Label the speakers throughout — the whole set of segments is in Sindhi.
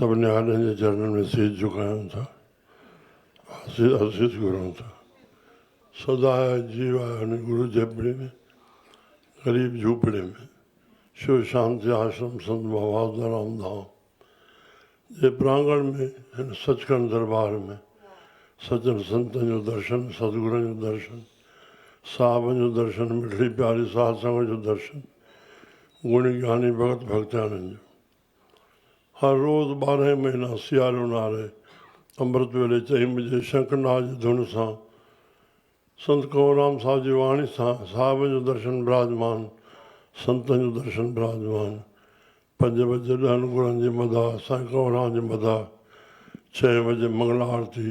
Speaker 1: سڀ نهاڏن جي چرنن ۾ سيج جهڪايون ٿا، آسيس گهرون ٿا. سدا آء جيو آء هن گرو جهپڙي ۾، غريب جهوپڙي ۾، شو شانتي آشرم سنت ڀوادارام ڌام جي پراڱڻ ۾، هن سچکنڊ درٻار ۾، سچن سنتن جو درشن، ستگرن جو درشن، صاحبن جو درشن، مٺڙي پياري ساڌ سنگت جو درشن، گڻي گياني ڀڳت ڀڳتياڻين جو. هر روز ٻارهن مهينا سياري اونهاري امرت ويلي چئين بجي شنک ناد جي ڌن سان سنت ڪنورام صاحب جي واڻي سان صاحبن جو درشن براجمان سنتن جو درشن براجمان پنج بجي ڏهن گرن جي مداح سائين ڪنورام جي مداح ڇهين بجي منگلا آرتي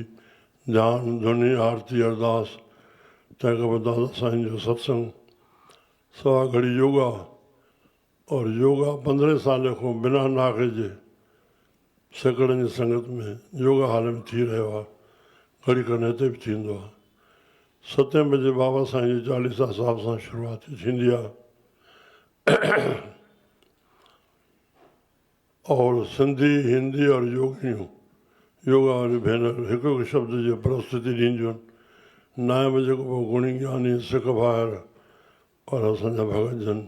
Speaker 1: ڌيان ڌوني آرتي ارداس تنهن کان پوء دادا سائين جو ستسنگ سوا گهڙي يوگا اور يوگا پندرهن سالين کان بنا ناغي جي سيڪڙن جي سنگت ۾ يوگا هال ۾ ٿي رهيو آهي، گهڙي کن هتي به ٿيندو آهي. ستين بجي بابا سائين جي چاليسا صاحب سان شروعاتي ٿيندي آهي اور سنڌي، هندي اور يوگينيون، يوگا واريون ڀينر، هڪ هڪ شبد جي پرستتي ڏينديون آهن. نائين بجي کان پوء گڻي گياني سک ڀائر پر اسان جا ڀڳت جن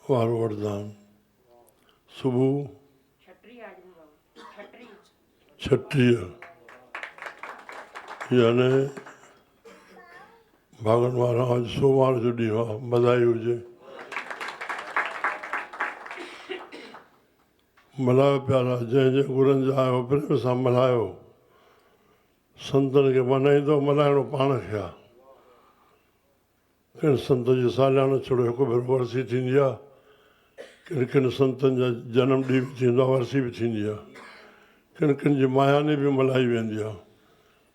Speaker 1: وارو وٺدا آھن صبح ڇٽيء يعني ڀاڳن وارا اڄ سومار جو ڏينهن آ بڌائي هجي ملهايو پيارا جنهن جنهن گرن جا آيو پريم سان ملهايو سنتن کي منائيندو ملهائڻو پاڻ کي آ ڪن سنتن جي ساليانو ڇڙو هڪ ڀيرو ورسي ٿيندي آهي. ڪن ڪن سنتن جا جنم ڏينهن به ٿيندا ورسي به ٿيندي آهي. ڪن ڪن جي ماهياني به ملهائي ويندي آهي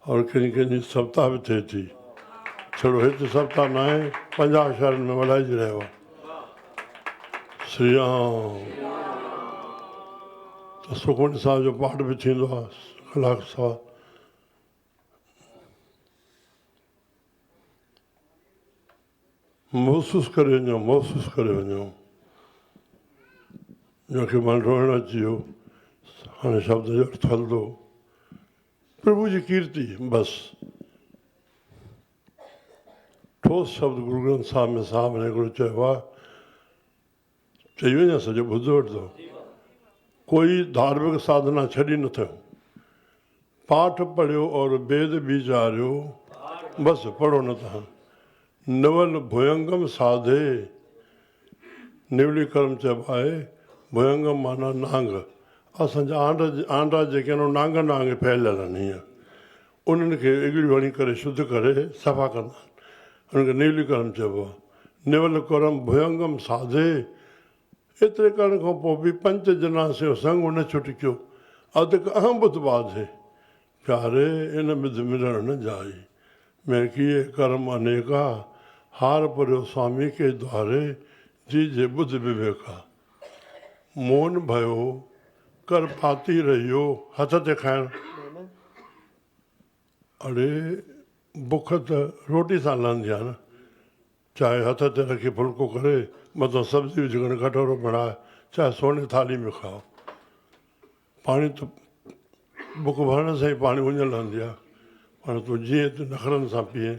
Speaker 1: اور ڪن ڪن جي سپتاهه به ٿئي ٿي. ڇڙو هت سپتاهه ناهي پنجاهه شهرن ۾ ملهائجي رهيو آهي. سري رام ته سکمڻي صاحب جو پاٺ به ٿيندو آهي. ڪلاڪ سوا محسوس ڪري وڃو محسوس ڪري وڃو جنهن کي مان روئڻ اچي ويو هاڻي شبد جو ارٿ هلندو پرڀو جي ڪيرتي بس ٺوس شبد گرو گرنٿ صاحب ۾ صاحب نے هڪڙو چيو آهي چئي وڃان سڄو ٻڌ وٺندو. ڪوئي ڌارمڪ ساڌنا ڇڏي نه ٿيو. پاٺ پڙهيو اور بيد بيچاريو بس پڙهو نه تهان. نول ڀوئنگم ساڌي نولي ڪرم چئبو آهي. ڀوئنگم معنيٰ نانگ. اسان جا آنڊا جيڪي آهن اهي نانگن وانگي ڦهليل آهن هيئن. انهن کي اڳڙي وڻي ڪري شڌ ڪري صفا ڪندا آهن. انهن کي نيولي ڪرم چئبو آهي. نيول ڪرم ڀيونگم ساڌي. ايتري ڪرڻ کان پوء به پنچ جنا سيو سنگ نه ڇٽڪيو. اڌڪ اهم ٻڌ ٻاڌي. پياري ان ٻڌ ملڻ نه جائي. مين ڪيئي ڪرم انيڪا. هار پريو سوامي ڪي دواري. جي جي ٻڌ وويڪا. موهن ڀيو ڪر پاتي رهيو هٿ تي کائڻ. اڙي بک ته روٽي سان لهندي آهي نه. چاهي هٿ تي رکي ڦلڪو ڪري مٿان سبزي وجهي کڻي ڪٽورو بڻاء چاهي سوني ٿالهي ۾ کاء. پاڻي ته بک ڀرڻ سان ئي پاڻي اڃ لهندي آهي. پر تون جيئن ته نخرن سان پيئين.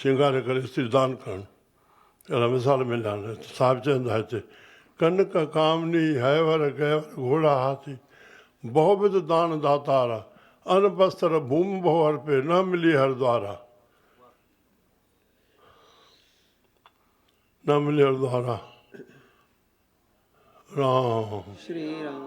Speaker 1: سينگاري ڪري استيدان ڪرڻ اهڙا مثال مليا آهن هتي صاحب چين ٿا هتي ڪنڪ ڪامني هيور گيور گهوڙا هاٿي بهو بد دان داتارا ان بستر ڀوم بهو هر پي نه ملي هر دوارا نه ملي هر دوارا رام شري رام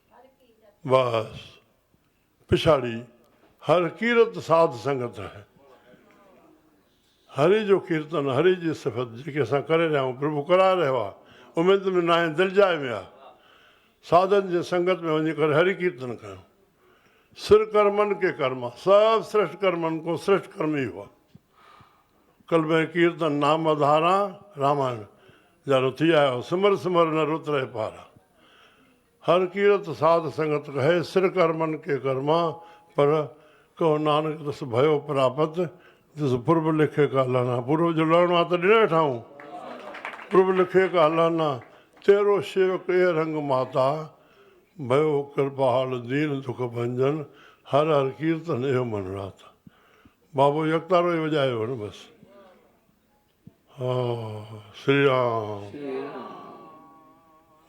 Speaker 1: وئس. پڇاڙي هر ڪيرت ساڌ سنگت آهي. هري جو ڪيرتن هري جي صفت جيڪي اسان ڪري رهيا آهيون پرڀو ڪرائي رهيو آهي اميد ۾ ناهين دل جاء ۾ آهي ساڌن جي سنگت ۾ وڃي ڪري هري ڪيرتن ڪيون سر ڪرمن ڪي ڪرما سڀ سرشٽ ڪرمن ڪو سرشٽ ڪرم ئي هئا ڪلبين ڪيرتن نام اڌاران رامائڻ جا رٿي آيو سمر سمر نه رت رهي پارا هر ڪيرت ساڌ سنگت ڪهي، سر ڪرمن ڪي ڪرما پر، ڪهو نانڪ تس ڀيو پراپت، جس پرڀ لکي ڪا لهنا. پرڀ جو لهڻو آهي ته ڏنئي ٺاهون. پرڀ لکي ڪا لهنا، تيرو شيوڪ ايئي رنگ ماتا، ڀيو ڪرپاهال دين دک ڀنجن، هر هر ڪيرتن اهيو من راتا. بابو يڪتارو ئي وڄايو هن بس. شري رام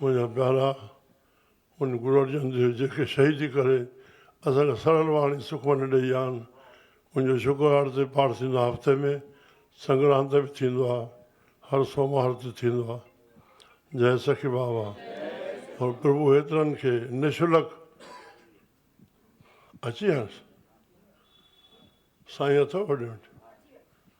Speaker 1: منهنجا پيارا ان گرو ارجن ديو جيڪي شهيدي ڪري اسان کي سرل واڻي سکمنڊ ڏئي ويا آهن ان جو شڪرواڙ تي پاٺ ٿيندو آهي هفتي ۾ سنگران تي به ٿيندو آهي هر سومهار تي ٿيندو آهي جئي سخي بابا پر پرڀو هيترن کي نشلڪ اچي هيس سائين اٿو وڏي وٽ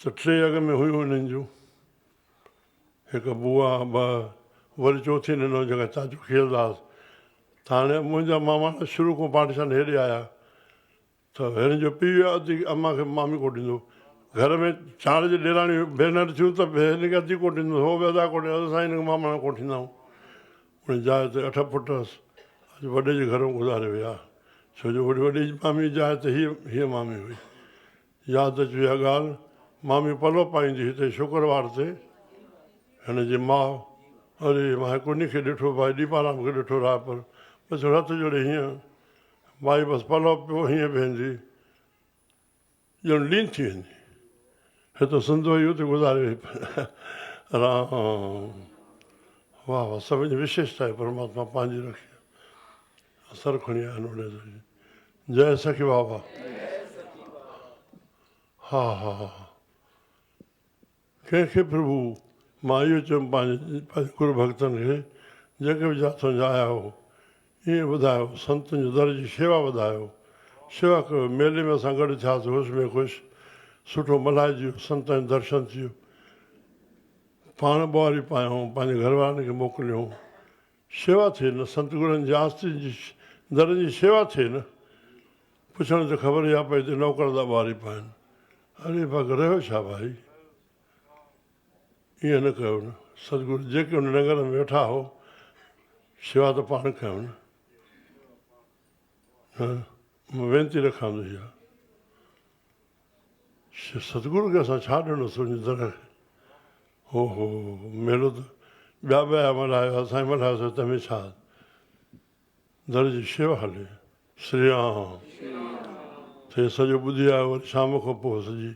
Speaker 1: ته ٽي اڳ ۾ هيون انهن جون هڪ بوا ٻه وري چوٿين انهو جيڪا چاچو کيرداس ته هاڻي منهنجا ماماڻا شروع کان پاٽيشان هيڏي آيا ته هن جو پيء ادي امان کي مامي ڪوٽ ڏيندو گهر ۾ چار جي ڏيراڻيون ڀينر ٿيون ته به هن کي ادي ڪوٽ ڏيندو هو به ادا ڪوٽ ڏيندو اسان هن کي ماماڻا ڪوٺيندائون ان جاء تي اٺ پٽ هئس اڄ وڏي جي گهرون گذاري ويا ڇو جو وڏي جي مامي جاء ته هيء هيء مامي هئي ياد اچي اها ڳالهه، مامي پلو پائيندي هتي شڪروار تي هن جي ماء، اري ماهي ڪني کي ڏٺو ڀائي ڏيپارام کي ڏٺو راهه پر پڇيو رت جوڙي هينئن مائي بس پلو پيو هينئن بيهندي ڄڻ لين ٿي ويندي هتو سندو ئي اتي گذاري وئي رام واهه واهه سڀن جي وشيشتا آهي پرماتما پنهنجي رکي اثر کڻي آيا آهن اوڏي جئي سخي بابا ها ها ها ڪنهن کي پرڀو مان اهو چيم پنهنجي پنهنجي گر ڀڳتن کي جنهن کي به جا تنهنجا آيا آهيو ايئن ٻڌايو سنتن جو در جي شيوا ٻڌايو شيوا ڪيو ميلي ۾ اسان گڏ ٿياسي هوش ۾ خوش سٺو ملهائجي ويو سنتن جو درشن ٿي ويو پاڻ ٻوهاري پايائون پنهنجي گهر وارن کي موڪليائون شيوا ٿئي نه سنت گرن جي آستين جي درن جي شيوا ٿئي نه پڇڻ ته خبر اها پئي ته نوڪر ٿا ٻهاري پائن اري پاڪ رهيو ڇا ڀائي ائين نه ڪيو نه سنت گر جيڪي ان ننگر ۾ ويٺا هو شيوا ته پاڻ ڪيو نه مان وينتي رکان ٿو اها ستگرو کي اسان ڇا ڏنو سڃتر هو هو ميلو ته ٻيا به آيا ملهايو ها سائين ملهايو سائين تنهن ۾ ڇا در جي شيوا هلي شري رام ٿي سڄو ٻڌي آيو وري شام کان پوء سڄي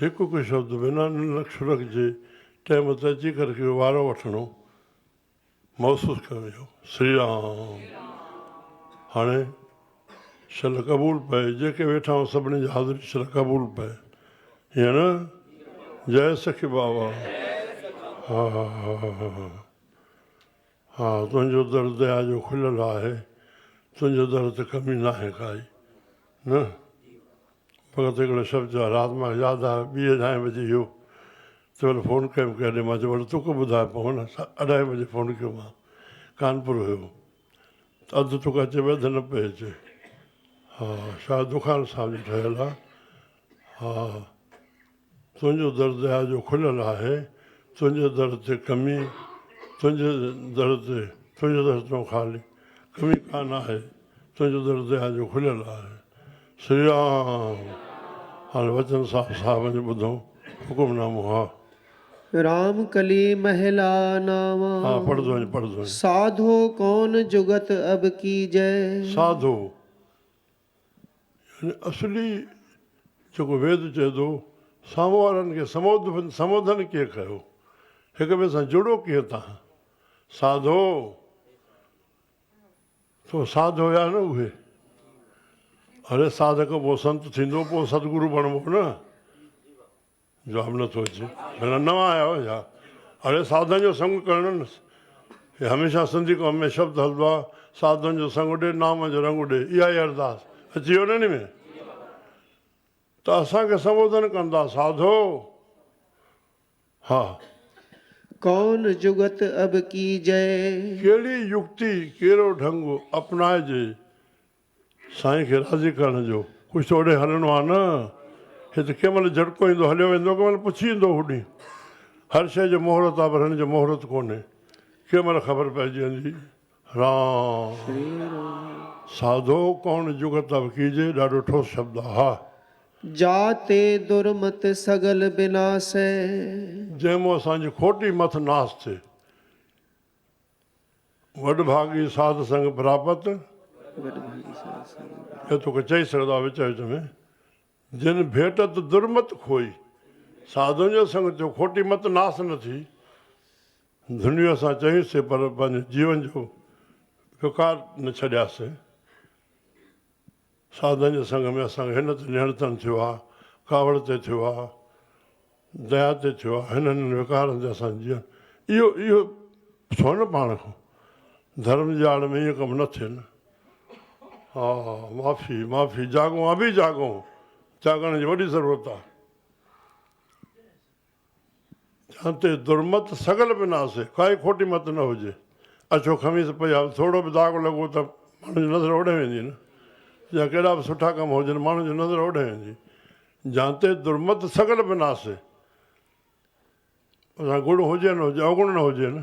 Speaker 1: هڪ هڪ شبد بنا نلڪ شلڪ جي ٽيم تي اچي ڪري وارو وٺڻو محسوس ڪيو ويندو سري رام هاڻي شل قبول پئي جيڪي ويٺا آهيون سڀني جي حاضري شل قبول پئي هيئن نه جئي سکي بابا ها ها ها ها تنهنجو در ديا جو کليل آهي تنهنجي در ته ڪمي ناهي ڪائي نه فقط هڪڙو شرط جو آهي رات مان ياد آيو ٻي اڍائين بجي اهو تمهل فون ڪيم ڪيڏي مان چيو ڀلا توکي ٻڌايو پوء هن اڍائين بجي فون ڪيو مان ڪانپور هيو ته اڌ توکي اچي پئي اڌ نه پئي اچي ها شايد دکان صاحب جي ٺهيل آهي ها تنهنجو در ديا جو کليل آهي، تنهنجي در تي ڪمي، تنهنجي در تي، تنهنجي در تون خالي، ڪمي ڪا نه آهي، تنهنجو در ديا جو کليل آهي. شري رام! هاڻي وچن صاحب صاحب وڃي ٻڌو حڪم نامو ها. رام
Speaker 2: ڪلي مهلا ناوان. ها پڙهه ٿو وڃي
Speaker 1: پڙهه ٿو وڃي. ساڌو
Speaker 2: ڪون جگت اب ڪيجئه. ساڌو
Speaker 1: يعني اصلي جيڪو ويد چئي ٿو، سامهون وارن کي سموڌن، سموڌن ڪيئن ڪيو، هڪ ٻئي سان جڙو ڪيئن تان، ساڌو، تو ساڌ هيا نه اهي، اڙي ساڌڪ پوء سنت ٿيندو، پوء ستگرو بڻبو نه. جواب نٿو اچي ڀلا نوان آيا آهيو ڇا؟ اڙي ساڌن جو سنگ ڪرڻ نه هي هميشه سنڌي قوم ۾ شبد هلندو آهي ساڌن جو سنگ اڏي نام جو رنگ اڏي اها ئي ارداس اچي ويو نه ان ۾ ته اسان کي سنبوڌن ڪن ٿا ساڌو ها ڪون
Speaker 2: جگت اب ڪيجئي. ڪهڙي يڪتي
Speaker 1: ڪهڙو ڍنگ اپنائجي سائين کي راضي ڪرڻ جو. ڪجهه ته اوڏي هلڻو آهي نه. هي ته ڪنهن مهل جهٽڪو ايندو هليو ويندو ڪنهن مهل پڇي ايندو هوڏي. هر شيء جو مهورت آهي پر هن جو مهورت ڪونهي. ڪنهن مهل خبر پئجي ويندي. رام. ساڌو ڪون جگت تب ڪيجي ڏاڍو ٺوس شبد آهي. هاء. جاتي
Speaker 2: درمت سگل بناسي. جنهن
Speaker 1: مون اسان جي کوٽي مٿ ناس ٿي. وڏ ڀاڳي ساڌ سنگ پراپت. وڏ ڀاڳي ساڌ سنگ پراپت. اهو توکي چئي سگهندو آهي وچ وچ ۾. جن ڀيٽت درمت کوئي. ساڌوء جي سنگ ٿيو کوٽي مت ناس نه ٿي. ڌڻيء اسان چيون سي پر پنهنجي جيون جو وقار نه ڇڏياسين. سادن جي سنگ ۾ اسان کي هن تي نهڙتڻ ٿيو آ، ڪاوڙ تي ٿيو آ، ديا تي ٿيو آ، هن هنن وقارن تي اسان جي جيئڻ اهو اهو پڇو نه پاڻ کان ڌرم جي آڙ ۾ ايئن ڪم نه ٿئي نه ها معافي معافي جاڳون ابي جاڳون جاڳڻ جي وڏي ضرورت آ. جنهن تي درمت سگل به نه آسي، ڪائي کوٽي مت نه هجي. اڇو خميس پئي آهي، ٿورڙو به داغ لڳو ته ماڻهن جي نظر اوڏهي ويندي نه. جا ڪيڏا به سٺا ڪم هجن، ماڻهن جي نظر اوڏهي ويندي. جنهن تي درمت سگل به نه آسي. اوسان گڙ هجي نه هجي، اوگڻ نه هجي نه.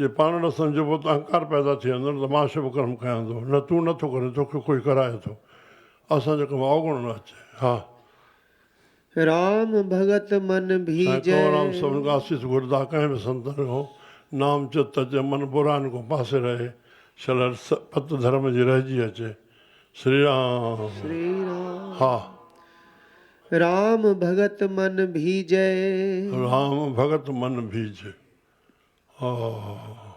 Speaker 1: جي پاڻ نه سمجهبو ته اهنڪار پيدا ٿي ويندو نه ته مان شڀ ڪرم ڪيان ٿو نه تون نه ٿو ڪرين توکي ڪوئي ڪرائي ٿو اسان جي ڪم اوگڻو نه اچي ها.
Speaker 2: رام ڀڳت من ڀيڄي. سائين ڪنورام سڀن کان اسيس
Speaker 1: گهردا ڪنهن به سنتن کان نام چت اچي من براين کان پاسي رهي شل پت ڌرم جي رهجي اچي سري رام ها.
Speaker 2: رام ڀڳت من ڀيڄي. رام
Speaker 1: ڀڳت من ڀيڄي. ها ها ها ها ها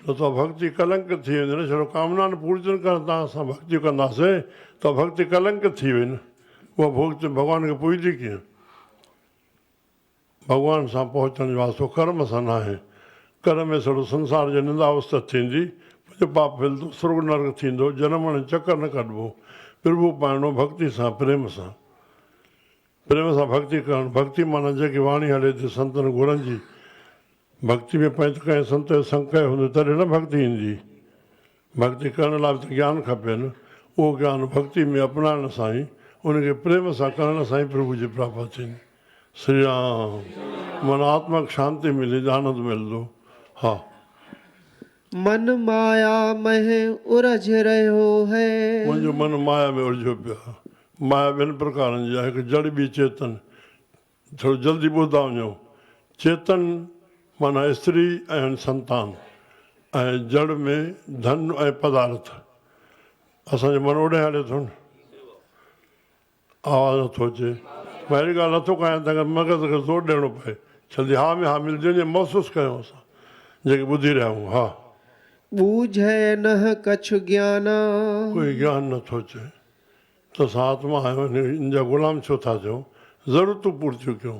Speaker 1: ته ته ڀڳتي ڪلنڪ ٿي ويندي نه شرو ڪامنا نه پوري ٿين ڪرڻ تان اسان ڀڳتيون ڪنداسين ته ڀڳتي ڪلنڪ ٿي وئي نه اها ڀڳتي ڀڳوان کي پوڄدي ڪيئن ڀڳوان سان پهچڻ جو واسطو ڪرم سان ناهي ڪرم ۾ سڙو سنسار جي نندا اوستت ٿيندي پنهنجو پاپ ڦلندو سرڳ نرڪ ٿيندو جنم مڙن چڪر نه ڪڍبو پرڀو پائڻو ڀڳتي سان پريم سان پريم سان ڀڳتي ڪرڻ، ڀڳتي معنيٰ جيڪي واڻي هلي ٿي سنتن گرن جي، ڀڳتي ۾ پنهت ڪنهن سنت جي سنگ ڪئي هوندي تڏهن نه ڀڳتي ايندي، ڀڳتي ڪرڻ لاء به ته گيان کپي نه، اهو گيان ڀڳتي ۾ اپنائڻ سان ئي، ان کي پريم سان ڪرڻ سان ئي پرڀو جي پراپت ٿيندي. سري رام! من آتمڪ شانتي ملي، ڄاڻند ملندو. ها!
Speaker 2: من مايا مه الجھ رهيو هي. منهنجو من مايا
Speaker 1: ۾ الجھيو پيو آهي. مايا ٻن پرڪارن جي آهي، هڪ جڙ ٻي چيتن. ٿورو جلدي ٻڌندا وڃو. چيتن معنيٰ استري ۽ سنتان ۽ جڙ ۾ ڌن ۽ پدارٿ. اسان جو من اوڏانهن هلي ٿو نه. آواز نٿو اچي مان اهڙي ڳالهه نٿو ڪايان تنهن ڪري مغز کي زور ڏيڻو پئي جلدي ها ۾ ها ملجي وڃي محسوس ڪيون اسان جيڪي ٻڌي رهيا آهيون ها. ٻوجهئي
Speaker 2: نه ڪڇ گيانا. ڪوئي گيان
Speaker 1: نه ٿو چئي ته اسان آتما آهيون ان جا غلام ڇو ٿا ٿيون ضرورتون پورتيون ڪيون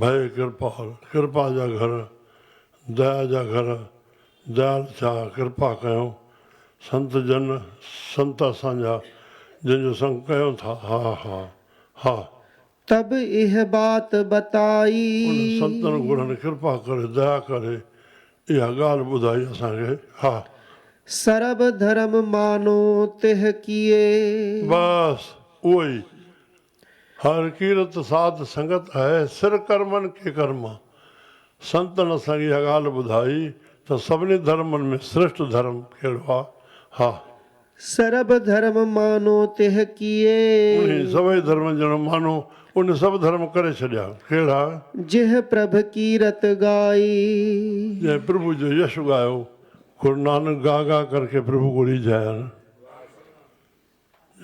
Speaker 1: ڀئي ڪرپال، ڪرپا جا گهر، ديا جا گهر، ديال ٿيا، ڪرپا ڪيو، سنت جن، سنت اسان جا، جن جو سنگ ڪيو ٿا، ها ها ها. تب
Speaker 2: اهه بات بتائي.
Speaker 1: ان
Speaker 2: سنتن
Speaker 1: گرهن ڪرپا ڪري، ديا ڪري، اها ڳالهه ٻڌائي اسان کي، ها. سرب
Speaker 2: ڌرم مانو تهه ڪيئي. بس
Speaker 1: اهو ئي، هر ڪيرت ساڌ سنگت اهي، سر ڪرمن ڪي ڪرم. سنتن اسان کي اها ڳالهه ٻڌائي ته سڀني ڌرمن ۾ سريشٽ ڌرم ڪهڙو آهي؟ ها! سرڀ
Speaker 2: ڌرم مانو تهه ڪيئي. انهي سڀئي
Speaker 1: ڌرمن ڄڻ مانو انهي سڀ ڌرم ڪري ڇڏيا. ڪهڙا؟ جنهن پرڀ
Speaker 2: ڪيرت ڳائي. جنهن
Speaker 1: پرڀو جو يش ڳايو. گرونانڪ گا گا ڪرڪي پرڀو ڪو ريجهايان.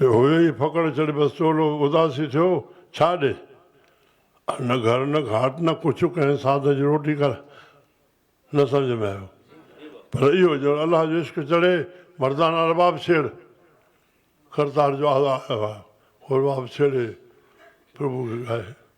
Speaker 1: هيء ئي ڦڪڻ چڙهي بس چولو اداسي ٿيو، ڇا ڏي؟ نه گهر نه گهاٽ نه ڪڇ ڪنهن ساڌ جي روٽي ڪر. نه سمجهه ۾ آيو. پر اهو ڄڻ الله جو عشق چڙهي مردانه رباب ڇيڙ. ڪرتار جو آهه آهه آهه هو رباب ڇيڙي پرڀو کي ڳائي.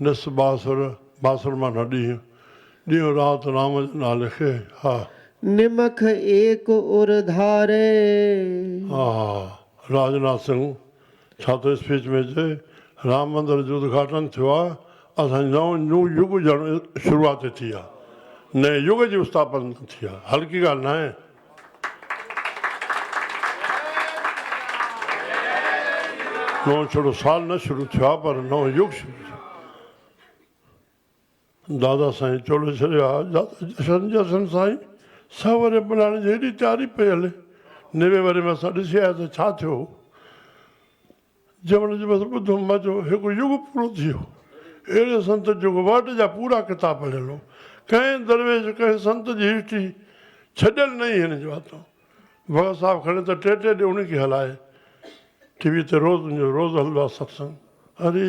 Speaker 1: نس بااثر بااثر معنيٰ ڏينهن، ڏينهن رات رام جي نالي کي ها. نمک
Speaker 2: ايڪ ار ڌاري. ها
Speaker 1: ها راج ناٿ سنگهه ڇا ٿو اسپيچ ۾ چئي رام مندر جو ادگهاٽن ٿيو آهي اسان جي نئون نيو يگ ڄڻ شروعات ٿي آهي نئين يگ جي اسٿاپنا ٿي آهي هلڪي ڳالهه ناهي. نئون ڇڙو سال نه شروع ٿيو آهي پر نئون يگ شروع ٿيو دادا سائين چوڙو ڇڏيو آهي دادا جشن جشن سائين سهه وري ملهائڻ جي هيڏي تياري پئي هلي نوي وري ۾ اسان ڏسي آيا ته ڇا ٿيو جمن جو بس ٻڌو مزو هڪ يگ پورو ٿي ويو اهڙي سنت جيڪو ورڊ جا پورا ڪتاب پڙهيل هو ڪنهن درويش ڪنهن سنت جي هسٽري ڇڏيل نه هئي هن جي واتو ڀڳت صاحب کڻي ته ٽي ٽي ڏينهن انهي کي هلائي ٽي وي تي روز روز هلندو آهي ستسنگ اري.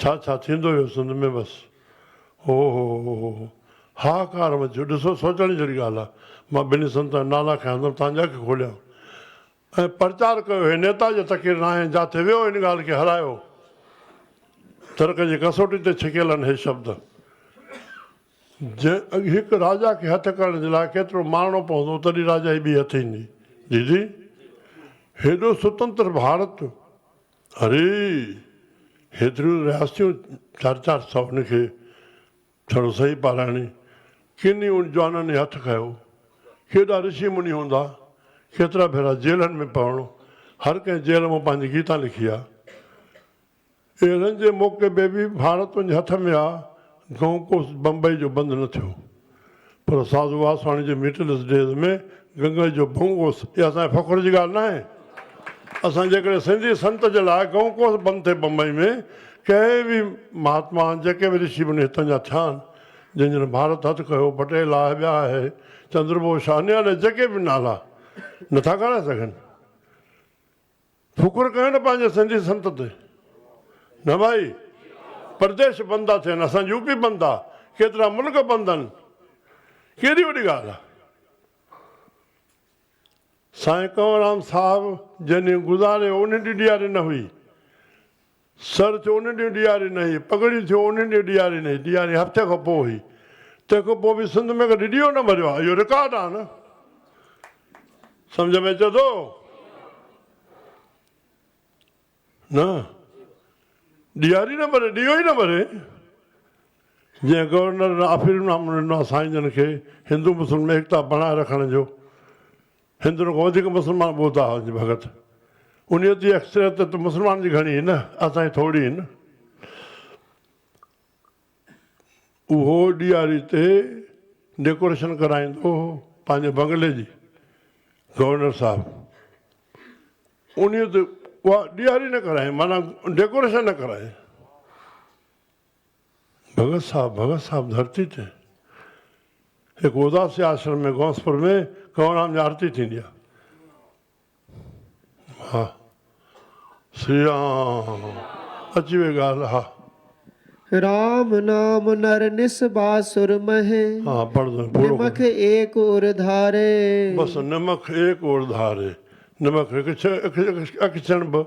Speaker 1: ڇا ڇا ٿيندو اهو سنڌ ۾ بس. هو هو هو هو هو هاهاڪار مچيو ڏسو سوچڻ جهڙي ڳالهه آهي مان ٻنهي سنتن جا نالا کنيا ته توهان جي اک کوليان ۽ پرچار ڪيو هي نيتا جو تقرير ناهي جاٿي ويو هن ڳالهه کي هرايو ترڪ جي ڪسوٽي تي ڇڪيل آهن هي شبد جنهن اڳ هڪ راجا کي هٿ ڪرڻ جي لاء ڪيترو مارڻو پوندو تڏهن راجا جي ٻي هٿ ايندي ديدي هيڏو سوتنتر ڀارت اري! هيتريون رياستيون چار چار سؤ هن کي ڇڙو سهي پارائڻي! ڪن ئي ان جوانن هي هٿ کنيو. ڪيڏا رشي مني هوندا، ڪيترا ڀيرا جيلن ۾ پوڻو، هر ڪنهن جيل مان پنهنجي گيتا لکي آ. اهڙن جي موقعي به ڀاڙت وڃي هٿ ۾ آ، گهون ڪوس بمبئي جو بند نه ٿيو. پر ساڌو واسواڻي جي ميٽلس ڊيز ۾ گنگل جو ڀنگ اوس اها اسان جي فخر جي ڳالهه ناهي. اسان جيڪڏهن سنڌي سنت جي لاء گنگ اوس بند ٿئي بمبئي ۾ ڪنهن به مهاتما جيڪي به رشي مني هتان جا ٿيا آهن جن جن ڀارت هٿ ڪيو پٽيل آهي ٻيا آهي چندر بوس آهي نياڻي جيڪي به نالا نٿا کارائي سگهن. شڪر ڪين پنهنجي سنڌي سنت تي نه ڀائي پرديش بند ٿا ٿين اسان يو پي بند آ ڪيترا ملڪ بند آهن ڪهڙي وڏي ڳالهه آ سائين ڪنورام صاحب جنهن ڏينهن گذاريو ان ڏينهن ڏياري نه هئي سر ٿيو ان ڏينهن ڏياري نه هئي، پڳڙي ٿيو ان ڏينهن ڏياري نه هئي، ڏياري هفتي کان پوء هئي، تنهن کان پوء به سنڌ ۾ ڪڏهن ڏيئو نه ٻريو آهي، اهو رڪارڊ آهي نه. سمجهه ۾ اچي ٿو نه؟ ڏياري نه ٻري، ڏيئو ئي نه ٻري. جنهن گورنر آفريم نامو ڏنو آهي سائين جن کي هندو مسلم ۾ ايڪتا بڻائي رکڻ جو. هندن کان وڌيڪ مسلمان ٻوڌا هئا جي ڀڳت انهيء تي اڪثريت ته مسلمانن جي گهڻي هئي نه اسان جي ٿورڙي هئي نه اهو ڏياري تي ڊيڪوريشن ڪرائيندو هو پنهنجي بنگلي جي گورنر صاحب انهيء تي اها ڏياري نه ڪرائين معنيٰ ڊيڪوريشن نه ڪرائين. ڀڳت صاحب ڀڳت صاحب ڌرتي تي هڪ اداسي آشرم ۾ غوثپور ۾ ڪنوررام جي آرتي ٿيندي آهي ها سري رام اچي وئي ڳالهه ها رام
Speaker 2: نام نر نس باسر مهي ها پڙهه ته
Speaker 1: پورو نمک ايڪ ار
Speaker 2: ڌاري بس نمک
Speaker 1: ايڪ ار ڌاري نمک هڪ اک چڻ به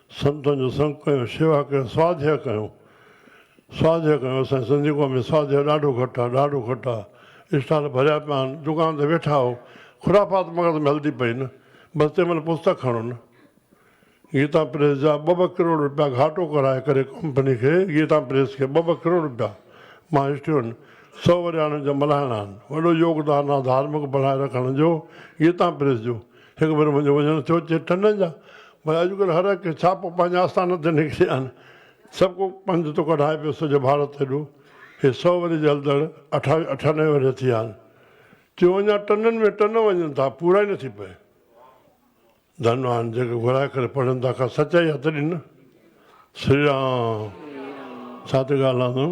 Speaker 1: سنتن جو سنگ ڪيو، شيوا ڪيو، سواڌيا ڪيو، سواڌيا ڪيو، اسان جي سنڌي قوم ۾ سواڌيا ڏاڍو گهٽ آ، ڏاڍو گهٽ آ، اسٽال ڀريا پيا آهن، دڪان تي ويٺا آهو، خرافات مغز ۾ هلدي پئي نه، بس تنهن مهل پستڪ کڻو نه. گيتا پريس جا ٻه ٻه ڪروڙ روپيا گهاٽو ڪرائي ڪري ڪمپني کي، گيتا پريس کي ٻه ٻه ڪروڙ روپيا مان هسٽرين، سؤ ورهياڻين جا ملهائڻا آهن، وڏو يوگدان آ ڌارمڪ بڻائي رکڻ جو، گيتا پريس جو. هڪ ڀيرو منهنجو وجهڻ ٿيو چي ٽنڊن جا ڀلا اڄڪلهه هر هڪ کي ڇا پوء پنهنجي آستان تي نڪري آن سڀ ڪو پنڌ ٿو ڪڍائي پيو سڄو ڀارت هيڏو هي سؤ ورهيه جي هلندڙ اٺاوي اٺانوي ورهيه ٿي آن تيون اڃا ٽنڊن ۾ ٽن وڃن ٿا پورا ئي نٿي پئي ڌن آن جيڪي گهرائي ڪري پڙهن ٿا ڪا سچائي آ تڏهن نه سري رام ڇا ٿي ڳالهان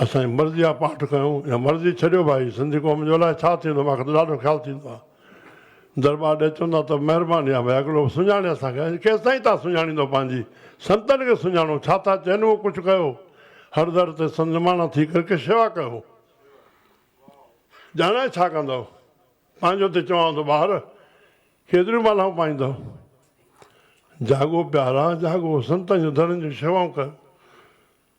Speaker 1: اسان جي مرضي جا پاٺ ڪيون يا مرضي ڇڏيو ڀائي سنڌي قوم جو الاء ڇا ٿيندو مان کي ته ڏاڍو خيال ٿيندو آ درٻار ڏي چوندا ته مهرباني آ ڀائي اڳلو سڃاڻي اسان کي ڪيستائين تا سڃاڻيندو پنهنجي سنتن کي سڃاڻو ڇا ٿا چين اهو ڪجهه ڪيو هر در تي سنت نماڻا ٿي ڪر ڪي شيوا ڪيو ڄاڻائي ڇا ڪندؤ پنهنجو ته چوان ٿو ٻاهر ڪيتريون مالهائون پائيندؤ جاڳو پيارا جاڳو سنتن جون درن جون شيوائون ڪيو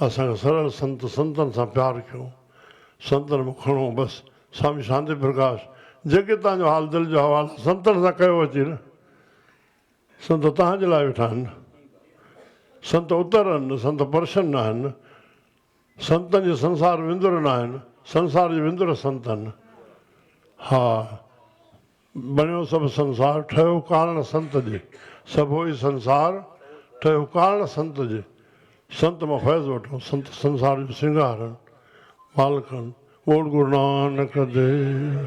Speaker 1: اسان سرل سنت سنتن سان پيار ڪيو سنتن مان کڻو بس سوامي شانتي پرڪاش جيڪي توهان جو حال دل جو حوال آهي سنتن سان ڪيو اچي نه سنت توهان جي لاء ويٺا آهن سنت اتر آهن سنت پرشن آهن سنتن جي سنسار وندر ناهن سنسار جي وندر سنت آهن ها بڻيو سڀ سنسار ٺهيو ڪارڻ سنت جي سڀوئي سنسار ٺهيو ڪارڻ سنت جي سنت مان فيض وٺو سنت سنسار جو سينگار هن مالڪ هن ٻوڙ گرونانڪ ديو.